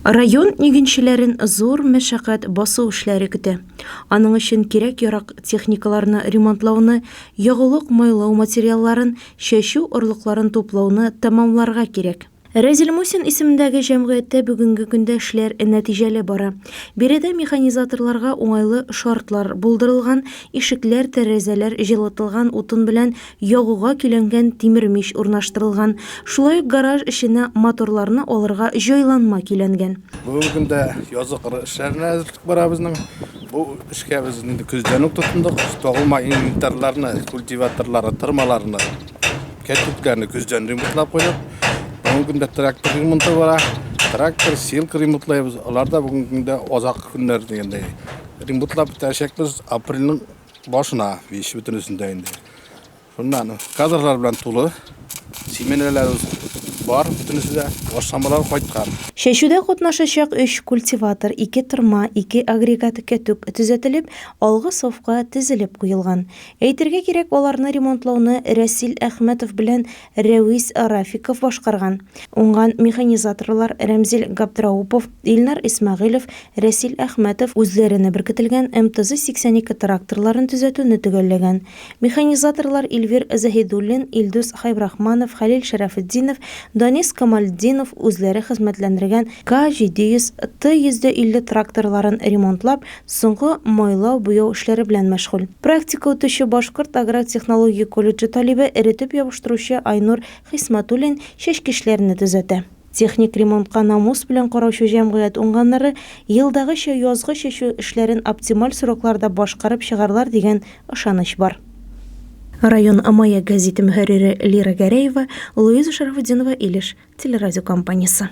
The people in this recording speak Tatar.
Район игенчеләрен зур мәшәкать басу эшләре көтә. Аның өчен кирәк-ярак техникаларны ремонтлауны, ягулык-майлау материалларын, чәчү орлыкларын туплауны тәмамларга кирәк. Рәзил Мусин исемендәге җәмгыятьтә бүгенге көндә эшләр нәтиҗәле бара. Биредә механизаторларга уңайлы шартлар булдырылган, ишекләр, тәрәзәләр җылытылган, утын белән ягуга көйләнгән тимер мич урнаштырылган, шулай ук гараж эченә моторларны алырга җайланма көйләнгән. Бүгенге көндә язгы кыр эшләренә әзерлек бара безнең. Бу эшкә без инде көздән үк тотындык. Тагылма инвентарьларны, культиваторларны, тырмаларны, кәтүткәне көздән ремонтлап куйдык. Бүгенге көндә трактор ремонты бара. Трактор, силка ремонтлыйбыз. Алар да бүгенге көндә азак көннәр дигәндәй ремонтлап бетерәчәкбез. Апрельнең Башына биш бөтен өстендә инде. Шуннан кадрлар белән тулы. Семенрәләребез бар бөтенесе дә. Ашламалар кайткан. Чәчүдә катнашачак өч культиватор, ике тырма, ике агрегат кәтүк төзәтелеп, алгы сафка тезелеп куелган. Әйтергә кирәк, аларны ремонтлауны Рәсил Әхмәтов белән Рәвис Рафиков башкарган, уңган механизаторлар Рәмзил Габдраупов, Илнар Исмәгыйлев, Рәсил Әхмәтов үзләренә беркетелгән МТЗ-82 тракторларын төзәтүне төгәлләгән. Механизаторлар Илвир Заһидуллин, Илдус Хәйбрахманов, Хәлил Шәрәфетдинов, Данис Камалетдинов үзләре хезмәтләндергән К-700, Т-150 тракторларын ремонтлап, Соңгы майлау, буяу эшләре белән мәшгуль. Практика үтүче Башкорт аграр технология колледжы талибе, эретеп ябыштыручы Айнур Хисматуллин чәчкечләрне төзәтә. Техник ремонтка намус белән караучы җәмгыять уңганнары елдагыча язгы чәчү эшләрен оптималь срокларда башкарып чыгарлар дигән ышаныч бар. Район мае гәзите мөхәррире Лира Гәрәева, Луиза Шәрәфетдинова, Илеш телерадиокомпаниясе.